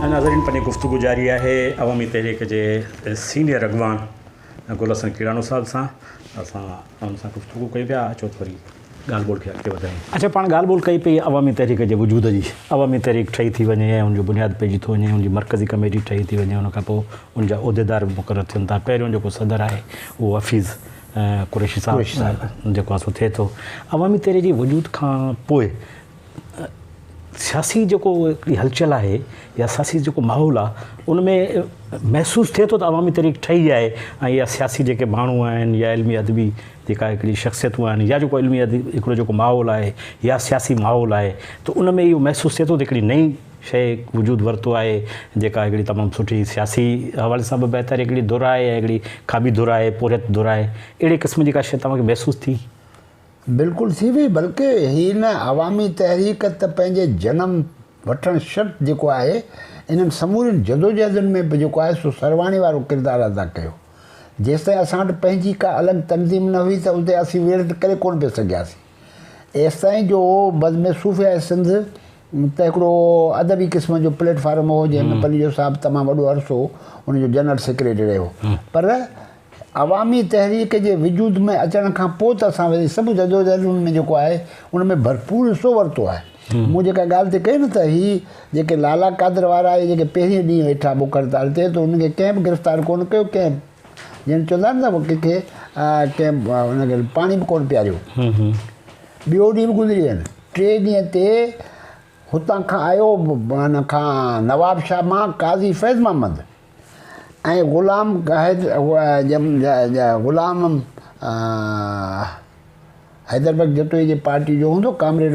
ناظرين پنهنجي گفتگو جاري آهي عوامي تحريڪ جي سينيئر اڳواڻ گل حسن ڪيڙاڻو صاحب سان اسان ان سان گفتگو ڪئي پيا اچو ٿوري ڳالهه ٻولهه کي اڳتي وڌايون اچو پاڻ ڳالهه ٻولهه ڪئي پئي عوامي تحريڪ جي وجود جي عوامي تحريڪ ٺهي ٿي وڃي ۽ ان جو بنياد پئجي ٿو وڃي ان جي مرڪزي ڪميٽي ٺهي ٿي وڃي ان کان پوء ان جا عهديدار به مقرر ٿين ٿا پهريون جيڪو صدر آهي اهو حفيظ قريشي صاحب جيڪو آسو ٿئي ٿو عوامي تحريڪ جي وجود کان پوء سياسي جيڪو هلچل آهي يا سياسي جيڪو ماحول آهي ان ۾ محسوس ٿئي ٿو ته عوامي تحريڪ ٺهي آهي ۽ يا سياسي جيڪي ماڻهو آهن يا علمي ادبي جيڪا هڪڙي شخصيتون آهن يا جيڪو علمي ادبي هڪڙو جيڪو ماحول آهي يا سياسي ماحول آهي ته ان ۾ اهو محسوس ٿئي ٿو ته هڪڙي نئي شيء وجود ورتو آهي جيڪا هڪڙي تمام سٺي سياسي حوالي سان به بهتر هڪڙي ڌر آهي ۽ هڪڙي کاٻي ڌر آهي پورهيت ڌر آهي اهڙي قسم جي ڪا شيء توهان کي محسوس ٿي؟ بلڪل ٿي هئي بلڪه هي هن عوامي تحريڪ ته پنهنجي جنم وٺڻ شرط جيڪو آهي انهن سمورين جدوجهدن ۾ به جيڪو آهي سو سرواڻي وارو ڪردار ادا ڪيو جيستائين اسان وٽ پنهنجي ڪا الڳ تنظيم نه هئي ته اتي اسين ويڙهه ته ڪري ڪونه پئي سگهياسين ايستائين جو بزم صوفياء سنڌ ته هڪڙو ادبي قسم جو پليٽ فارم هو جنهن ۾ پليجو صاحب تمام وڏو عرصو ان جو جنرل سيڪريٽري رهيو پر عوامي تحريڪ جي وجود ۾ اچڻ کان پوء ته اسان ويسي سڀ جدوجهدن ۾ جيڪو آهي ان ۾ ڀرپور حصو ورتو آهي مون جيڪا ڳالهه تي ڪئي نه ته هي جيڪي لالا قادر وارا اهي جيڪي پهرين ڏينهن ويٺا بک هڙتال تي ته انهن کي ڪنهن به گرفتار ڪونه ڪيو ڪنهن جن چوندا آهن نه ڪنهن کي ڪنهن ان کي پاڻي به ڪونه پياريو ٻيو ڏينهن به گذري ويو ٽئين ڏينهن تي هتان کان آيو ان کان نواب شاهه مان قاضي فيض محمد ۽ غلام گاهد غلام حيدر بيگ جتوئي جي پارٽي جو هوندو ڪامريڊ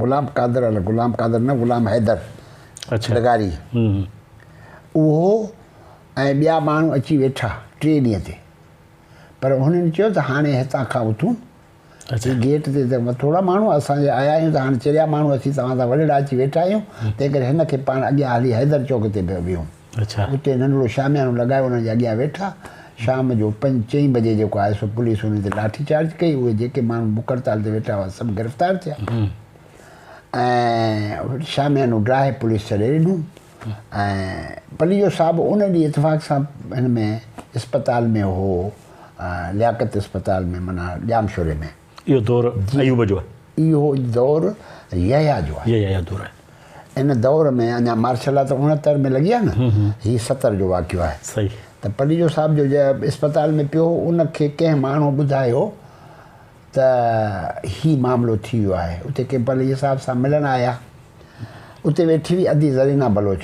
غلام قادر غلام قادر نه غلام حيدر لغاري اهو ۽ ٻيا ماڻهو اچي ويٺا ٽئين ڏينهن تي پر هنن چيو ته هاڻي هتان کان اٿون اسين گيٽ تي ته ٿورا ماڻهو اسان جي آيا آهيون ته هاڻ چريا ماڻهو اچي توهان سان ولڙا اچي ويٺا آهيون، تنهنڪري هن کي پاڻ اڳيان هلي حيدر چوڪ تي پيو ويهون. اتي ننڍڙو شاميانو لڳايو انهن جي اڳيان ويٺا. شام جو پنج چئين بجي جيڪو آيو سو پوليس انهن تي لاٺي چارج ڪئي. اهي جيڪي ماڻهو بک هڙتال تي ويٺا هئا سڀ گرفتار ٿيا ۽ شاميانو ڊاهي پوليس ڇڏي ڏنو. ۽ پليجو صاحب ان ڏينهن اتفاق سان هن ۾ اسپتال ۾ هو لياقت اسپتال ۾ معنيٰ ڄامشوري ۾. اهو دور ايوب جو آهي. اهو دور يحيٰ جو آهي. يحيٰ جو دور آهي. ان دور ۾ اڃا مارشل لا ته اڻهتر ۾ لڳي آهي نه. هي ستر جو واقعو آهي. صحيح. ته پليجو صاحب جو اسپتال ۾ پيو هو ان کي ڪنهن ماڻهو ٻڌايو. ته هي معاملو ٿي ويو آهي اتي ڪي پليجي صاحب سان ملڻ آيا اتي ويٺي هئي ادي زرينا بلوچ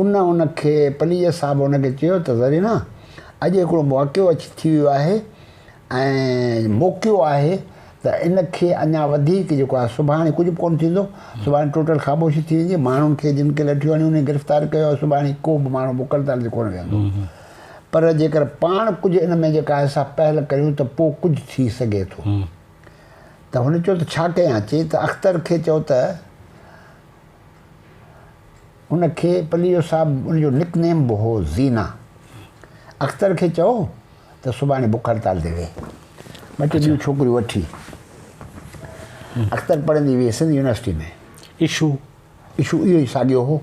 ان ان کي پليجي صاحب ان کي چيو ته زرينا اڄ هڪڙو واقعو اچي ٿي ويو آهي ۽ موقعو آهي ته ان کي اڃا وڌيڪ جيڪو آهي سڀاڻي ڪجهه به ڪونه ٿيندو سڀاڻي ٽوٽل خاموشي ٿي ويندي ماڻهن کي جن کي لٺيون هنيون انهن کي گرفتار ڪيو سڀاڻي ڪو به ماڻهو مڪل تال تي ڪونه ويهندو پر جيڪر پاڻ ڪجهه ان ۾ جيڪا آهي سا پهل ڪريون ته پوء ڪجهه ٿي سگهي ٿو. ته هن چيو ته ڇا ڪيان؟ چي ته اختر کي چئو ته ان کي پليو صاحب ان جو نڪ نيم به هو زينا. اختر کي چئو ته سڀاڻي بک هڙتال تي ويهي. ٻه ٽي ٻيون ڇوڪريون وٺي اختر پڙهندي ويهي سنڌ يونيورسٽي ۾. اشو؟ اشو اهو ئي ساڳيو هو.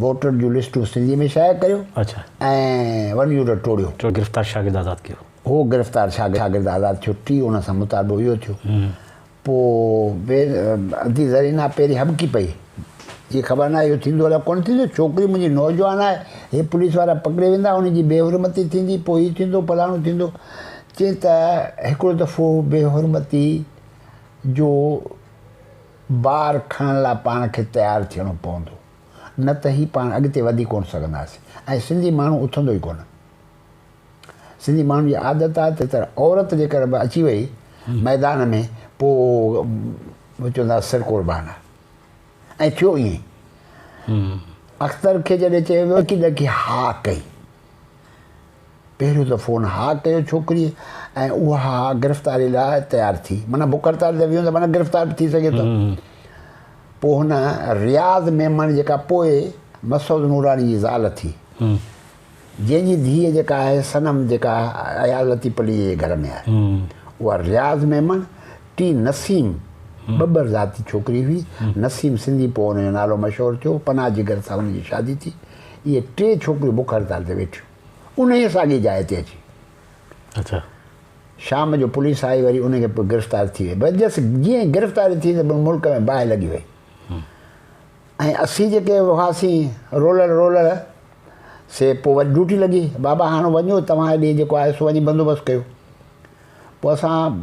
ووٽر جون لسٽون سنڌي ۾ شايع ڪريو اڇا ۽ ون يونٽ ٽوڙيو. ٽيون گرفتار شاگرد آزاد ڪيو. هو گرفتار شاگرد آزاد ٿيو ٽي ان سان مطالبو اهو ٿيو پو بي ادي زرينا پيري هٻڪي پئي جي خبر ناهي اهو ٿيندو الاء ڪونه ٿيندو ڇوڪري منهنجي نوجوان آهي هي پوليس وارا پڪڙي ويندا ان جي بي حرمتي ٿيندي پو هي ٿيندو فلاڻو ٿيندو چي ته هڪڙو دفعو بي حرمتي جو بار کڻڻ لاء پاڻ کي تيار ٿيڻو پوندو نه ته هي پاڻ اڳتي وڌي ڪونه سگهنداسين ۽ سنڌي ماڻهو اٿندو ئي ڪونه. سنڌي ماڻهن جي عادت آهي ته تر عورت جيڪر به اچي وئي ميدان ۾ پو چوندا سر قربان آهي ۽ ٿيو ائين اختر کي جڏهن چيو ويو ڪي ڏڪي ها ڪئي. پهريون ته فون ها ڪيو ڇوڪريء ۽ اها ها گرفتاري لاء تيار ٿي. معنيٰ بک هڙتال تي ويهون ته معنيٰ گرفتار به ٿي سگهي ٿو. پوء هن رياض ميمڻ جيڪا پوء مسعود نوراني جي زال ٿي. جنهن جي ڌيء جيڪا آهي صنم جيڪا اياز لطيف عليء جي گهر ۾ آهي. اها رياض ميمڻ ٽي نسيم ٻٻر ذاتي ڇوڪري هئي. نسيم سنڌي پوء ان جو نالو مشهور ٿيو. پناهه جگر سان هن جي شادي ٿي. اهي ٽي ڇوڪريون بک هڙتال تي ويٺيون انهيء ساڳي جاء تي اچي. اچا. شام جو پوليس آئي وري انهن کي گرفتار ٿي وئي بس جس جيئن گرفتاري ٿي ته ملڪ ۾ باهه لڳي وئي ۽ اسين جيڪي هئاسين رولر رولر سي پوء وري ڊيوٽي لڳي بابا هاڻ وڃو توهان ڏي جيڪو آهي سو وڃي بندوبست ڪيو پوء اسان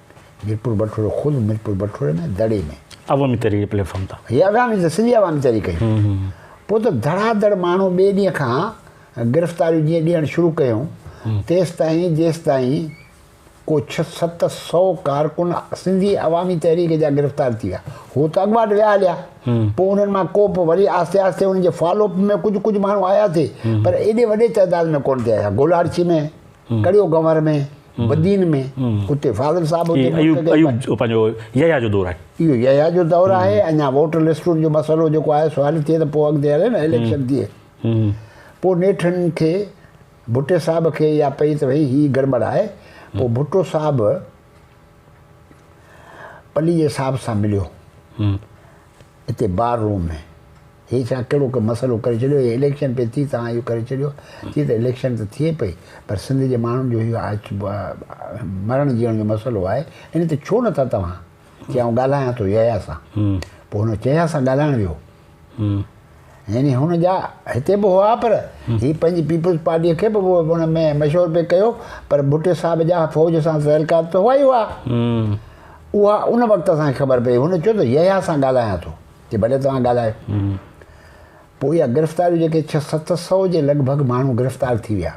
ميرپور بٺورو خود ميرپور بٺوري ۾ دڙي ۾ عوامي تحريڪ پليٽ فارم تان هي عوامي ته سڄي عوامي تحريڪ ڪئي پوء ته ڌڙا ڌڙ ماڻهو ٻئي ڏينهن کان گرفتاريون جيئن ڏيڻ شروع ڪيون تيستائين جيستائين ڪو ڇهه ست سؤ ڪارڪن سنڌي عوامي تحريڪ جا گرفتار ٿي ويا هو ته اڳواٽ ويا هليا پوء انهن مان ڪو به وري آهستي آهستي انهن جي فالو اپ ۾ ڪجهه ڪجهه ماڻهو آيا ٿي پر ايڏي وڏي تعداد ۾ ڪون ٿي آيا گولاڙچي ۾ ڪڙيو گنور ۾ بدين ۾ اتي فاضل صاحب اتي ايوب ايوب پنهنجو يحيٰ جو دور آهي اهو يحيٰ جو دور آهي اڃا ووٽر لسٽن جو مسئلو جيڪو آهي سو حل ٿئي ته پوء اڳتي هلي نه اليڪشن ٿئي پوء نيٺن کي ڀٽي صاحب کي يا پئي ته وئي هي گڙٻڙ آهي پوء ڀٽو صاحب پليجي صاحب سان مليو اتي بار روم ۾ هي ڇا ڪهڙو ڪو مسئلو ڪري ڇڏيو هي اليڪشن پئي ٿي توهان اهو ڪري ڇڏيو ٿي ته اليڪشن ته ٿئي پئي پر سنڌ جي ماڻهن جو اهو مرڻ جيئڻ جو مسئلو آهي ان تي ڇو نٿا توهان چي آئون ڳالهايان ٿو يحيٰ سان پوء هن چيا سان ڳالهائڻ ويو يعني هن جا هتي به هئا پر هي پنهنجي پيپلز پارٽي کي به هن ۾ مشهور پئي ڪيو پر ڀٽو صاحب جا فوج سان تعلقات ته هئا ئي هئا اها ان وقت اسان کي خبر پئي هن چيو ته يحيٰ سان ڳالهايان ٿو جي ڀلي توهان ڳالهايو پوء اها گرفتاري جيڪي ڇهه ست سؤ جي لڳ ڀڳ ماڻهو گرفتار ٿي ويا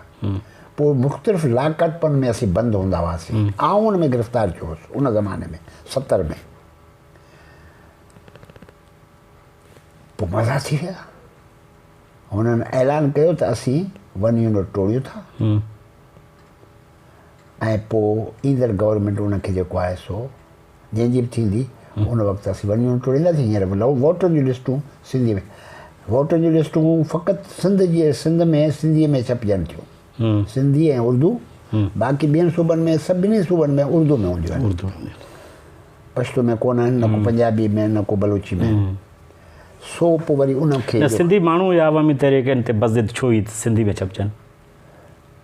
پوء مختلف لاڪٽپن ۾ اسين بند هوندا هئاسين آئون ان ۾ گرفتار ٿيو هوس ان زماني ۾ ستر ۾ پوء مزا ٿي ويا هنن اعلان ڪيو ته اسين ون يونٽ ٽوڙيون ٿا ۽ پوء ايندڙ گورنمنٽ ان کي جيڪو آهي سو جنهن جي به ٿيندي ان وقت اسين ون يونٽ ٽوڙينداسين هينئر به لهو ووٽن جون لسٽون سنڌي ۾ ووٽن جون لسٽون فقط سنڌ جي سنڌ ۾ سنڌي ۾ ڇپجن ٿيون سنڌي ۽ اردو باقي ٻين صوبن ۾ سڀني صوبن ۾ اردو ۾ هونديون آهن پشتو ۾ ڪون آهن نه ڪو پنجابي ۾ نه ڪو بلوچي ۾ سو پوء وري ان کي سنڌي ماڻهو يا عوامي تحريڪن تي بس ضد ڇو هي سنڌي ۾ ڇپجن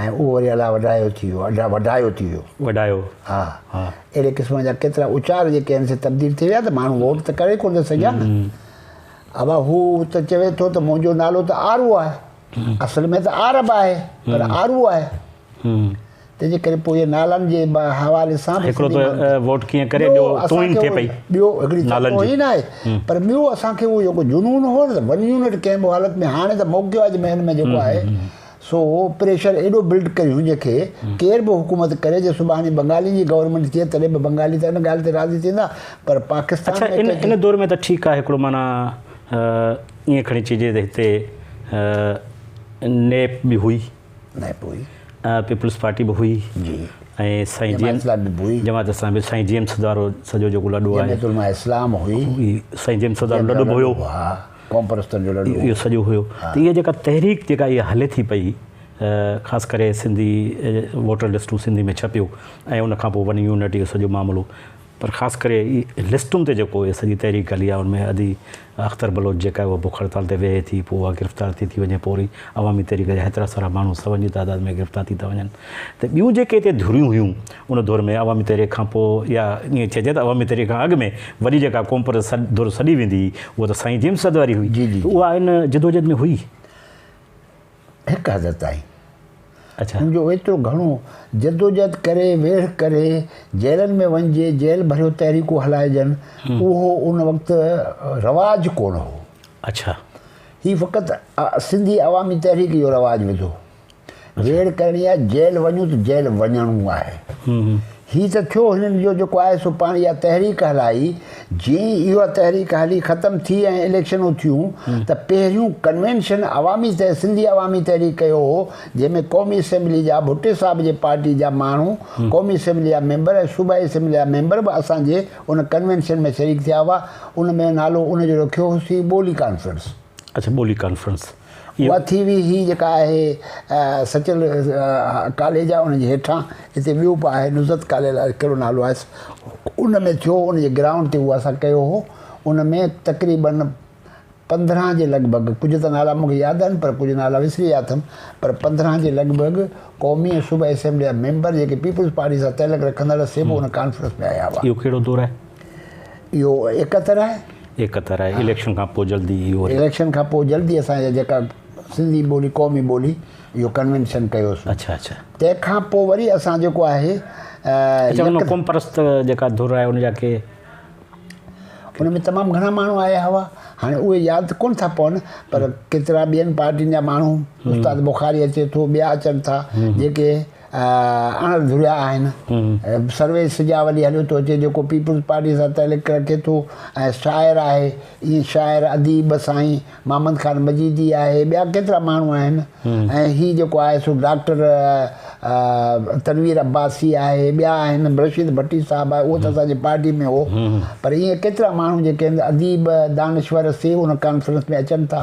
۽ اهو وري الاء وڍايو ٿي ويو اڍا وڍايو ٿي ويو وڍايو ها ها اهڙي قسم جا ڪيترا اچار جيڪي آهن سي تبديل ٿي ويا ته ماڻهو ووٽ ته ڪري ڪونه سگهيا نه ابا هو ته چوي ٿو ته منهنجو نالو ته آرو آهي اصل ۾ ته عرب آهي پر آرو آهي تنهن جي ڪري پوء نالن جي حوالي سان هڪڙو ته ووٽ ڪيئن ڪري ٻيو توهين ٿي پئي ٻيو هڪڙي نالن جي نه آهي پر ٻيو اسان کي اهو جيڪو جنون هو ته ون يونٽ ڪنهن به حالت ۾ هاڻي ته موقعو آهي ۾ جيڪو آهي سو پريشر ايڏو بلڊ ڪريون جنهن کي ڪير به حڪومت ڪري جي سڀاڻي بنگالين جي گورنمينٽ ٿئي تڏهن به بنگالي ته ان ڳالهه تي راضي ٿيندا پر پاڪستان اڇا ان ان دور ۾ ته ٺيڪ آهي هڪڙو معنيٰ ائين کڻي چئجي ته هتي نيپ به هئي نيپ هئي پيپلز پارٽي به هئي جي ۽ سائين جي ايم جماعت اسلام به سائين جي ايم سدارو سڄو جيڪو لڏو آهي جماعت علماء اسلام هئي سائين جي ايم سدارو لڏو به هيو قومپرستن جو لڙو هو. اهو سڄو هيو ته اها جيڪا تحريڪ جيڪا اها هلي ٿي پئي خاص ڪري سنڌي ووٽر لسٽون سنڌي ۾ ڇپيو ۽ ان کان پوء ون يونٽ اهو سڄو معاملو پر خاص ڪري لسٽن تي جيڪو اها سڄي تحريڪ هلي آهي ان ۾ ادي اختر بلوچ جيڪا اها بک هڙتال تي ويهي ٿي پوء اها گرفتار ٿي ٿي وڃي پوء وري عوامي تحريڪ جا هيترا سارا ماڻهو سون جي تعداد ۾ گرفتار ٿي ٿا وڃن ته ٻيون جيڪي هتي ڌريون هيون ان دور ۾ عوامي تحريڪ کان پوء يا ائين چئجي ته عوامي تحريڪ کان اڳ ۾ وڏي جيڪا قوم پرست ڌر سڏي ويندي هئي اها ته سائين جيمس صدر واري هئي ته اها ان جدوجهد ۾ هئي؟ هڪ حد تائين. اڇا. ان جو ايترو گهڻو جدوجهد ڪري، ويڙهه ڪري، جيلن ۾ وڃجي، جيل ڀريو تحريڪون هلائجن، اهو ان وقت رواج ڪونه هو. اڇا. هي فقط سنڌي عوامي تحريڪ اهو رواج وڌو. ريڙ ڪرڻي آهي جيل وڃون ته جيل وڃڻو آهي هي ته ٿيو هنن جو جيڪو آهي سو پاڻ اها تحريڪ هلائي جي اها تحريڪ هلي ختم ٿي ۽ اليڪشنون ٿيون ته پهريون ڪنوينشن عوامي سنڌي عوامي تحريڪ ڪيو هو جنهن ۾ قومي اسيمبلي جا ڀٽي صاحب جي پارٽي جا ماڻهو قومي اسيمبلي جا ميمبر ۽ صوبائي اسيمبلي جا ميمبر به اسان جي ان ڪنوينشن ۾ شريڪ ٿيا هئا ان ۾ نالو ان جو رکيو هوسين ٻولي ڪانفرنس اڇا ٻولي ڪانفرنس اها ٿي وئي هي جيڪا آهي سچل ڪاليج آهي ان جي هيٺان هتي ٻيو به آهي نصرت ڪاليج آهي ڪهڙو نالو آهيس ان ۾ ٿيو ان جي گرائونڊ تي اهو اسان ڪيو هو ان ۾ تقريبن پندرهن جي لڳ ڀڳ ڪجهه ته نالا مونکي ياد آهن پر ڪجهه نالا وسري ويا اٿم پر پندرهن جي لڳ ڀڳ قومي ۽ صوبائي اسيمبلي جا ميمبر جيڪي پيپلز پارٽي سان تعلق رکندڙ سي به ان ڪانفرنس ۾ آيا هئا اهو ڪهڙو دور آهي اهو اڪتر آهي اڪتر آهي اليڪشن کان پوء جلدي اهو اليڪشن کان پوء جلدي اسان جا جيڪا سنڌي ٻولي قومي ٻولي اهو ڪنوينشن ڪيوسون اچھا اچھا تنهن کان پوء وري اسان جيڪو آهي اچھا قوم پرست جيڪا ڌر آهي ان جا ڪي ان ۾ تمام گھڻا ماڻهو آيا هئا هاڻي اهي ياد ڪون ٿا پون پر ڪيترا ٻين پارٽين جا ماڻهو استاد بخاري اچي ٿو ٻيا اچن ٿا جيڪي اڻ ڌريا آهن. سرويچ سجا ولي هليو ٿو اچي جيڪو پيپلز پارٽي سان تعلق رکي ٿو ۽ شاعر آهي ائين شاعر اديب سائين محمد خان مجيدي آهي ٻيا ڪيترا ماڻهو آهن ۽ هي جيڪو آهي سو ڊاڪٽر تنوير عباسي آهي ٻيا آهن رشيد ڀٽي صاحب آهي اهو ته اسان جي پارٽي ۾ هو پر ائين ڪيترا ماڻهو جيڪي اديب دانشور سي ان ڪانفرنس ۾ اچن ٿا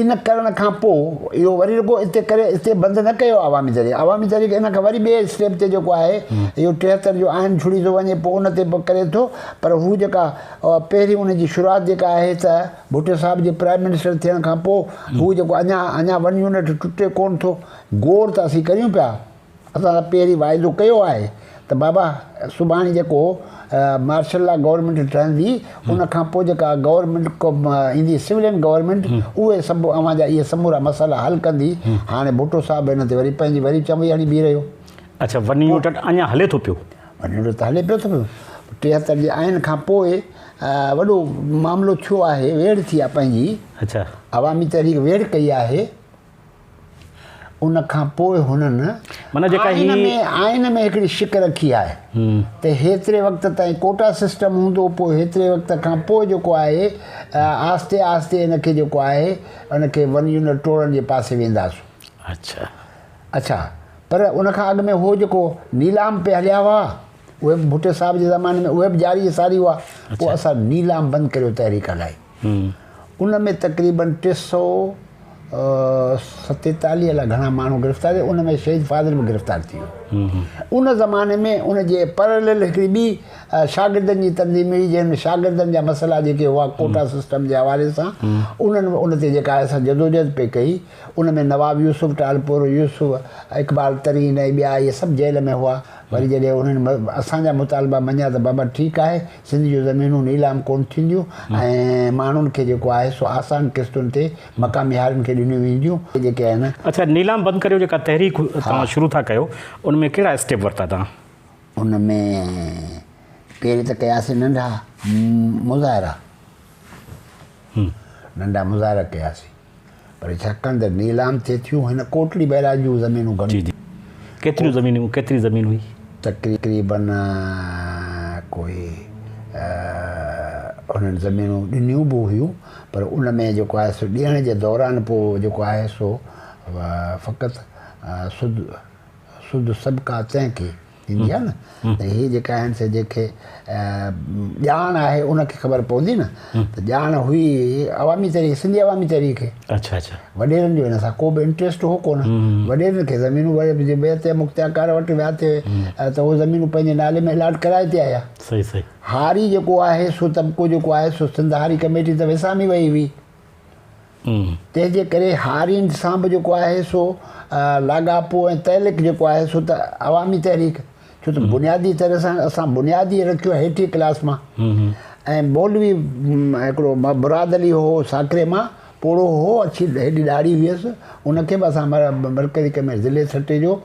ان ڪرڻ کان پوء اهو وري رڳو اتي ڪري اتي بند نه ڪيو عوامي تحريڪ عوامي تحريڪ ان کان وري ٻئي اسٽيپ تي جيڪو آهي اهو ٽيهتر جو آئين جڙي ٿو وڃي پوء ان تي به ڪري ٿو پر هو جيڪا پهرين ان جي شروعات جيڪا آهي ته ڀٽو صاحب جي پرائم منسٽر ٿيڻ کان پوء هو جيڪو اڃا اڃا ون يونٽ ٽٽي ڪون ٿو گور ته اسين ڪريون پيا اسان پهرين واعدو ڪيو آهي ته بابا سڀاڻي جيڪو مارشل لا گورنمينٽ ٺهندي ان کان پوء جيڪا گورنمينٽ ايندي سولين گورنمينٽ اهي سڀ اوهان جا اهي سمورا مسئلا حل ڪندي هاڻي ڀٽو صاحب هن تي وري پنهنجي وري چنبي هڻي بيهي رهيو اڇا وني يونٽ اڃا هلي ٿو پيو وني يونٽ ته هلي پيو ٿو ٽيهتر جي آئين کان پوء وڏو معاملو ٿيو آهي ويڙهه ٿي آهي پنهنجي اڇا عوامي تحريڪ ويڙهه ڪئي آهي ان کان پوء هنن معنيٰ جيڪا آئين هي- ۾ آئين ۾ هڪڙي شڪ رکي آهي ته هيتري وقت تائين ڪوٽا سسٽم هوندو پوء هيتري وقت کان پوء جيڪو آهي آهستي آهستي ان کي جيڪو آهي ان کي ون يونٽ ٽوڙڻ جي پاسي وينداسون. اڇا. اڇا پر ان کان اڳ ۾ هو جيڪو نيلام پي هليا هئا اهي به ڀٽي صاحب جي زماني ۾ اهي به جاري ساري هئا پوء اڇا. اسان نيلام بند ڪريو تحريڪ هلائي. ان ۾ تقريبن ٽي سؤ ستيتاليهه الائي گهڻا ماڻهو گرفتار ٿيا ان ۾ شهيد فاضل به گرفتار ٿي ويو ان زماني ۾ ان جي پرلل هڪڙي ٻي شاگردن جي تنظيم هئي جنهن ۾ شاگردن جا مسئلا جيڪي هئا ڪوٽا سسٽم جي حوالي سان انهن ان تي جيڪا اسان جدوجهد پئي ڪئي ان ۾ نواب يوسف ٽالپور يوسف اقبال ترين ۽ ٻيا اهي سڀ جيل ۾ هئا وري جڏهن انهن اسان جا مطالبا مڃيا ته بابا ٺيڪ آهي سنڌ جون زمينون نيلام ڪونه ٿينديون ۽ ماڻهن کي جيڪو آهي سو آسان قسطن تي مقامي هارين کي ڏنيون وينديون جيڪي آهن. اڇا نيلام بند ڪريو جيڪا تحريڪ توهان شروع ٿا ڪيو ان ۾ ڪهڙا اسٽيپ ورتا توهان؟ ان ۾ پهرين ته ڪياسي ننڍا مظاهرا ننڍا مظاهرا ڪياسي. پر ڇا ڪن ته نيلام ٿئي ٿيون هن ڪوٽڙي بئراج جون زمينون گهڻيون جي جي ڪيتريون زمينون ڪيتري زمين هئي تقريبن ڪوئي هنن زمينون ڏنيون به هيون پر ان ۾ جيڪو آهي سو ڏيڻ جي دوران پو جيڪو آهي سو فقط سود سود سبقا تنهن کي ٿيندي آهي نه ته هي جيڪا آهن سي جيڪي ڄاڻ آهي ان کي خبر پوندي نه ته ڄاڻ هئي عوامي تحريڪ سنڌي عوامي تحريڪ کي اچھا اچھا وڏيرن جو ان سان ڪو به انٽريسٽ هو ڪونه وڏيرن کي زمينون وري جي بيت يا مختيارڪار وٽ ويا ٿي ته هو زمينون پنهنجي نالي ۾ الاٽ ڪرائي تي آيا صحيح صحيح هاري جيڪو آهي سو طبقو جيڪو آهي سو سنڌ هاري ڪميٽي ته وسامي وئي هئي تنهن جي ڪري هارين سان به جيڪو آهي سو لاڳاپو ۽ تعلق جيڪو آهي سو ته عوامي تحريڪ ڇو ته بنيادي طرح سان اسان بنيادي رکيو هيٺي ڪلاس مان ۽ مولوي هڪڙو مراد علي هو ساڪري مان پوڙهو هو اڇي هيڏي ڏاڙهي هيس ان کي به اسان مرڪزي ڪميٽي ضلعي ٺٽي جو